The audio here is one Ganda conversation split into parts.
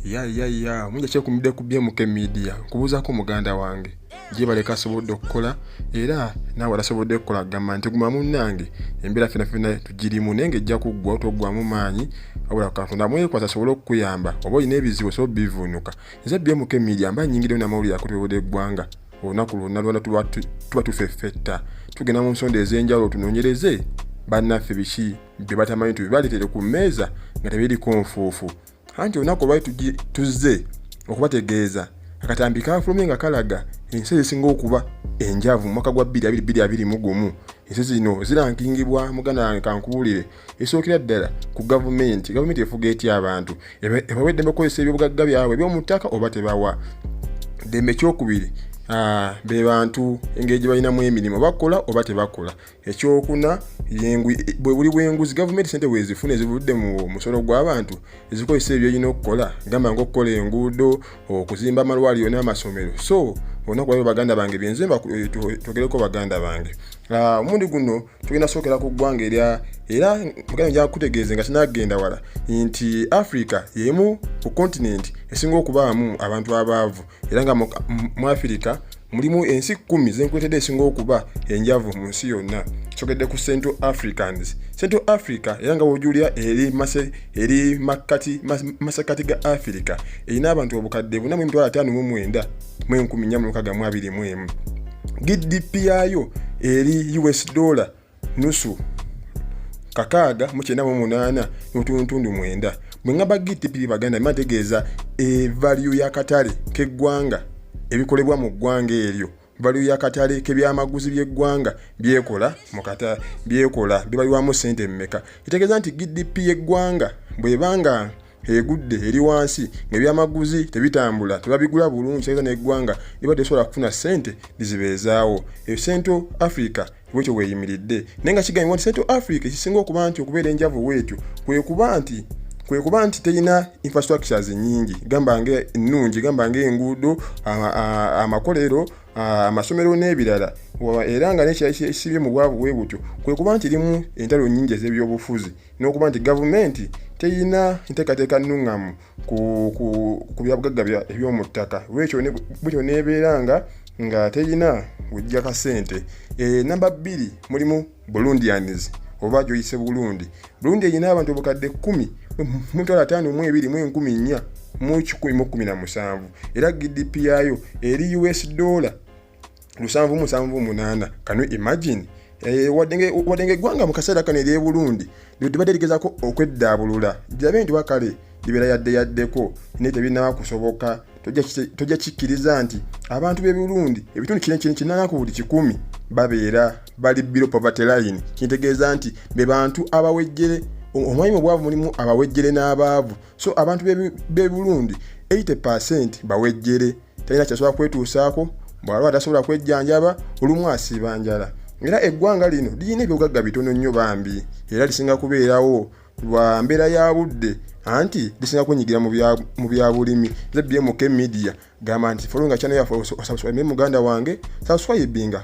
ya ya ya munja kyekumidde ku bmk media nkubuuzaako muganda wange gyebaleka asobodde okukola era naawe alasobodde okukola agamba nti guma munnange embeera fena fena tugirimu naye nga ejja kuggwa toggwamu maanyi wabula katonda mwekwasa asobole okukuyamba oba olina ebizibu osobola obivuunuka nze bmk media mba nyingidewo namawulire akutebode eggwanga olunaku lwonna lwona tuba tufeffetta tugenda mu nsonda ez'enjawulo tunoonyereze bannaffe biki bye batamanyi tubibaleetere ku mmeeza nga tebiriko nfuufu anti olunaku olwali tuzze okubategeeza akatambi kaafulumye nga kalaga ensi ezisinga okuba enjavu mu mwaka gwa 2221 ensi zino zirankingibwa muganda wange kankubuulire esookera ddala ku gavumenti gavumenti efuga etya abantu ebawa eddembe okukozesa ebyobugagga byabwe ebyomu ttaka oba tebawa ddembe ekyokubiri Ah, be bantu engeri gye balinamu emirimu bakola oba tebakola ekyokuna bwe buli bwenguzi gavumenti sente bwezifuna ezivudde mu musolo gw'abantu ezikozesa ebyo erina okukola gamba nga okukola enguudo okuzimba amalwaliro n'amasomero so olunaku lwabyo baganda bange byenze eh, twogereko baganda bange ah, omundi guno tugenda sookera ku ggwanga erya era muganda nja kutegeeze nga kinagenda wala nti africa yemu ku kontinenti esinga okubaamu abantu abaavu era nga mu afirika mulimu ensi kkumi zenkuletedde esinga okuba enjavu mu nsi yonna kyogedde ku central africans central africa era nga wojulira eri masekati ga afirika erina abantu obukadde buna mu emitwalo ataano mu mwenda mu enkumi nnya mu lukaga mu abiri mu emu gdp yaayo eri us dollar nusu kakaaga mu kyenda mu munaana n'otuntundu mwenda bwe ngamba gtp baganda ma tegeeza evaliyo y'akatale k'eggwanga ebikolebwa mu ggwanga eryo valiyo y'akatale k'ebyamaguzi by'eggwanga byekola mukata byekola bibalirwamu ssente mmeka kitegeeza nti gdp y'eggwanga bweba nga egudde eri wansi ng'ebyamaguzi tebitambula tebabigula bulungi kitegeeza n'eggwanga liba tesobola kufuna ssente lizibeezaawo eyo central africa bwekyo bweyimiridde naye nga kigambibwa nti central africa ekisinga okuba nti okubeera enjavu bwetyo kwekuba nti kwekuba nti terina infrastructures nyingi gamba nga ennungi gamba nga enguudo amakolero amasomero n'ebirala era nga nekisibye mu bwavu bwe butyo kwekuba nti limu entalo nyingi ez'ebyobufuzi n'okuba nti gavumenti teyina nteekateeka nnuŋŋamu ku byabugagga eby'omu ttaka lwekyo bwekyo neebeera nga nga teyina wejja ka ssente eh, namba bbiri mulimu bulundians oba gyoyise bulundi bulundi erina abantu obukadde kkumi mutwalo ataano mu ebiri mu enkumi nnya mu kikumi mu kkumi na musanvu era gdp yaayo eri us dollar lusanvu musanvu munaana kanu imagine Eh, wadde nga eggwanga mu kaseera kano ery'e burundi libadde ligezako okweddaabulula birabe nti wakale libeera yadde yaddeko naye tebinaba kusoboka tojja kikkiriza nti abantu b'e burundi ebitundu kina kina kinana ku buli kikumi babeera bali bilo poverty line kintegeeza nti be bantu abawejjere omwami mu bwavu mulimu abawejjere n'abaavu so abantu b'e burundi 80 percent bawejjere talina kyasobola kwetuusaako bw'alaba tasobola kwejjanjaba olumu asiiba njala era eggwanga lino lirina ebyogagga bitono nnyo bambi era lisinga kubeerawo lwa mbeera ya budde anti lisinga kunyigira mu byabulimi zbmk media gamba nti folowinga kyano yafe osabswaime muganda wange sabswaibinga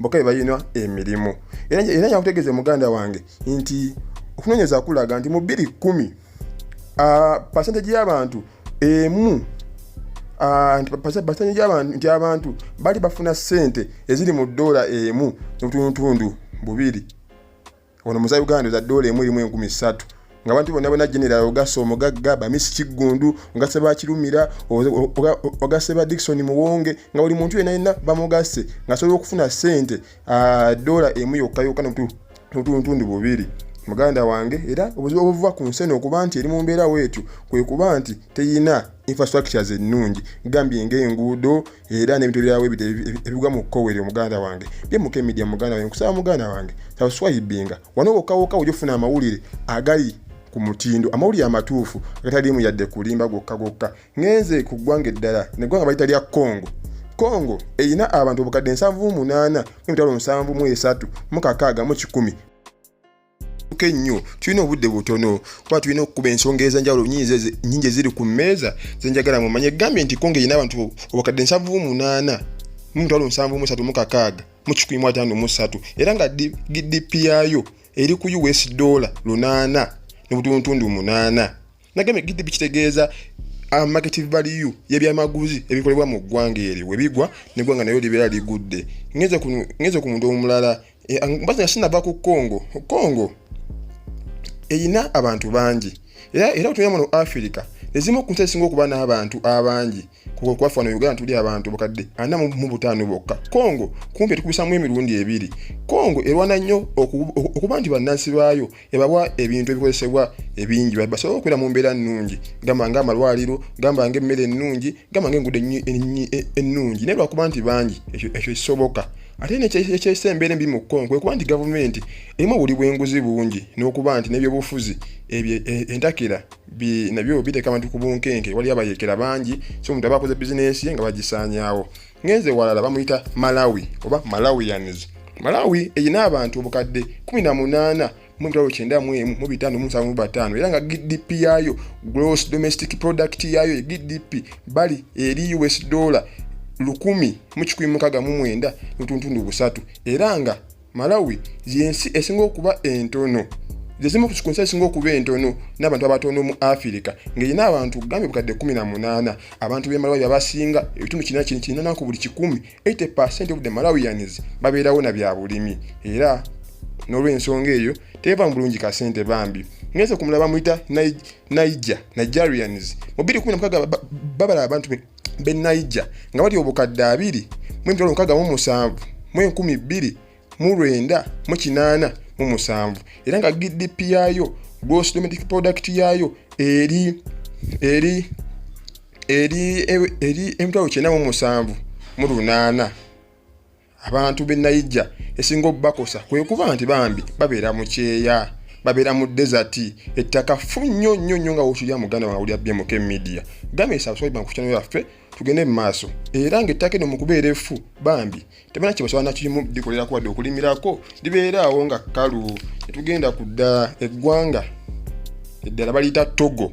boka bebalina emirimu era nyakutegeeza muganda wange nti okunonyeza kulaga nti mu biri kumi pasenteji y'abantu emu pasenteji y'abantu nti abantu bali bafuna sente eziri mu doola emu nobutundutundu bubiri ono muza uganda oza doola emu erimu enkumi ssatu nga abantu bonna bona general ogasa omugagga bamisi kiggundu ogase bakirumira ogase ba dikisoni muwonge nga buli muntu yena yena bamugase ngasobola okufuna sente ah, dola emu yokka yokka notuntundu bubiri muganda wange era obuzibu obuva ku nsi eno okuba nti eri mu mbeera weetyo kwe kuba nti teyina infrastructures ennungi gambye ng'enguudo era n'ebintu ebirala webita ebigwa mu kkowe eryo muganda wange bye muka emidia muganda wange nkusaba muganda wange sabuswayibinga wano wokawoka oja ofuna amawulire agali ku mutindo amawulire amatuufu agataliimu yadde kulimba gwokka gwokka ngenze ku ggwanga eddala neggwanga bayita lya congo congo erina abantu obukadde 7 mu 8 mu mitwalo 7 mu 3 mu kakaaga mu kikumi tuke ennyo tulina obudde butono kuba tulina okukuba ensonga ez'enjawulo nyingi eziri ku mmeeza zenjagala mumanye egambye nti konge erina abantu obukadde nsanvu munaana mu mitwalo nsanvu mu esatu mu kakaaga mu kikumi mu ataano mu ssatu era nga gdp yaayo eri ku us dola lunaana ne butundutundu munaana nagambye gidi bikitegeeza ah, market value yebyamaguzi ebikolebwa mu ggwanga eryo webigwa neggwanga nayo libeera ligudde ngeze ku muntu omulala eh, ah, mbazi nga sinava ku congo congo erina abantu bangi era era otuya muno africa ezimu ku nsi esinga okuba n'abantu abangi kukwaffa no uganda tuli abantu bukadde ana mu butaano bokka congo kumpi tukubisamu emirundi ebiri congo erwana nnyo okuba nti bannansi baayo ebawa ebintu ebikozesebwa ebingi basobole okubeera mu mbeera nnungi gamba nga amalwaliro gamba nga emmere ennungi gamba nga enguudo ennungi naye lwakuba nti bangi ekyo kisoboka ate nekyesa embeera embi mu kkongo kwe kuba nti gavumenti erimu obuli bwenguzi bungi n'okuba nti n'ebyobufuzi ebyo e, entakera nabyo biteeka abantu ku bunkenke waliyo abayekera bangi so omuntu aba akoze bizinensi ye nga bagisaanyaawo ngenze walala bamuyita malawi oba malawians malawi erina abantu obukadde 18 mu emitwalo kyenda mu emu mu bitaano mu musanvu mu bataano era nga gdp yaayo gross domestic product yaayo gdp bali eri us dollar lukumi mu kikumi mukaga mu mwenda n'otuntundu busatu era nga malawi yensi esinga okuba entono zezimu ku nsi esinga okuba entono n'abantu abatono mu afirika ngaerina abantu gambye bukadde 18 abantu bemalawi abasinga ebitundu kirina kino kirina ku buli kikumi 80 percent of the malawians babeerawo na bya bulimi era n'olwensonga eyo teva mu bulungi kasente bambi ngeze ku mulaba muyita naija nigerians mu 216 babala abantu be Niger nga bali obukadde abiri mu emitwalo mukaaga mu musanvu mu enkumi bbiri mu lwenda mu kinaana mu musanvu era nga GDP yaayo gross domestic product yaayo eri eri eri eri emitwalo kyenda mu musanvu mu lunaana abantu b'e nayija esinga obubakosa kwe kuba nti bambi babeera mu kyeya babeera mu desati ettaka fu nnyo nnyo nnyo nga wotulya muganda wawulira bmk media gamesa abaswaiba nkukyano yaffe tugende mu maaso era ngaettaka eno mu kubeera efu bambi tebana kyebasobola nakimu likolera kuwadde okulimirako libeera awo nga kkalu etugenda kudda eggwanga eddala baliyita togo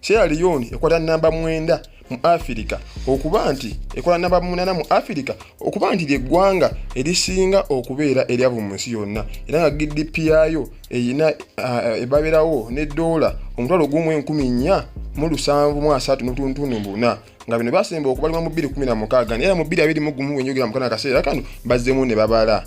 Sierra Leone ekwata namba mwenda mu afirika okuba nti ekola namba munana mu afirika okuba nti lyeggwanga erisinga okubeera eryavu mu nsi yonna era nga gdp yaayo erina eh, ebabeerawo ne doola omutwalo gumu enkumi nnya mu lusanvu mu asatu n'obutundutundu buna nga bino basemba okubalima mu bbiri kumi na mukaaga era mu bbiri abiri mu gumu wenjogera mukana akaseera kano bazzemu ne babala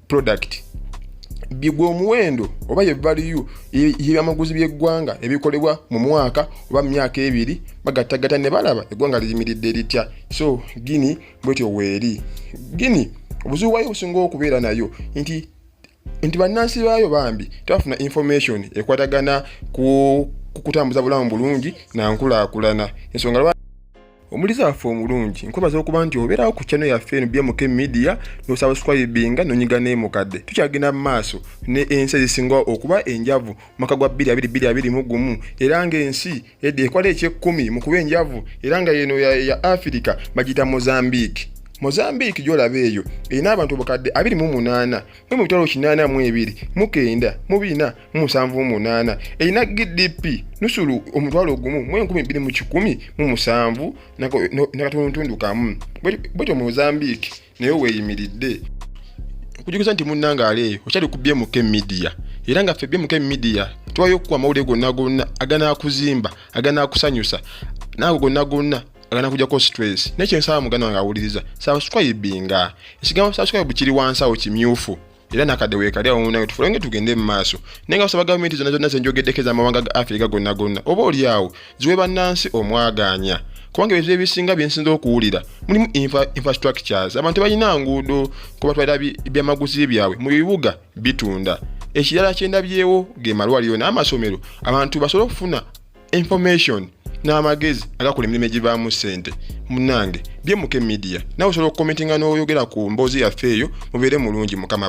product bigwa omuwendo oba ye value yebyamaguzi byeggwanga ebikolebwa mu mwaka oba mumyaka ebiri bagattagatta ne balaba eggwanga liyimiridde litya so gini bwetyo weeri gini obuzibu bwayo obusinga okubeera nayo nti nti bannansi baayo bambi tebafuna information ekwatagana ku kutambuza bulamu bulungi na nkulaakulana ensonga omulizi waffe omulungi nkwebaza okuba nti obeerawo ku channel yaffe eno bmk media nosabuscribinga nonyiga neemukadde tukyagenda mu maaso ne ensi ezisinga okuba enjavu mu mwaka gwa 22 mu gumu era ng'ensi edda ekwala ekyekkumi mu kuba enjavu era nga yeno ya afirika bagiyita mozambique mozambique gyolaba eyo erina abantu obukadde 28 mwe mu bitwalo 82 mukenda mu bina musanvu munaana erina gdp nusulu omutwalo ogumu mu enkumi bbiri mu kikumi mu musanvu nakatundutundu kamu bwetyo mozambique naye weeyimiridde okujiguza nti munnanga aleeyo okyali ku bmk media era nga ffe bmk media tuwayo okukuwa amawulire gonna gonna aganakuzimba aganakusanyusa naago gonna gonna agana kujako stress naye kyensaba muganda wange awuliriza subscribinga ekigambo subscribe kiri wansi awo kimyufu era nakadde weekali awo munawe tufulenge tugende mu maaso naye nga basaba gavumenti zonna zonna zenjogeddeko ez'amawanga ga afirika gonna gonna oba oli awo ziwe bannansi omwagaanya kubanga ebintu ebisinga byensinza okuwulira mulimu infrastructures abantu balina nguudo kubatwalira byamaguzi byabwe mu bibuga bitunda ekirala kyendabyewo ge malwaliro n'amasomero abantu basobole okufuna information n'amagezi agakola emirimu egivaamu ssente munange byemuke media nawe osobola okukomentinga n'oyogera ku mboozi yaffe eyo mubeere mulungi mukama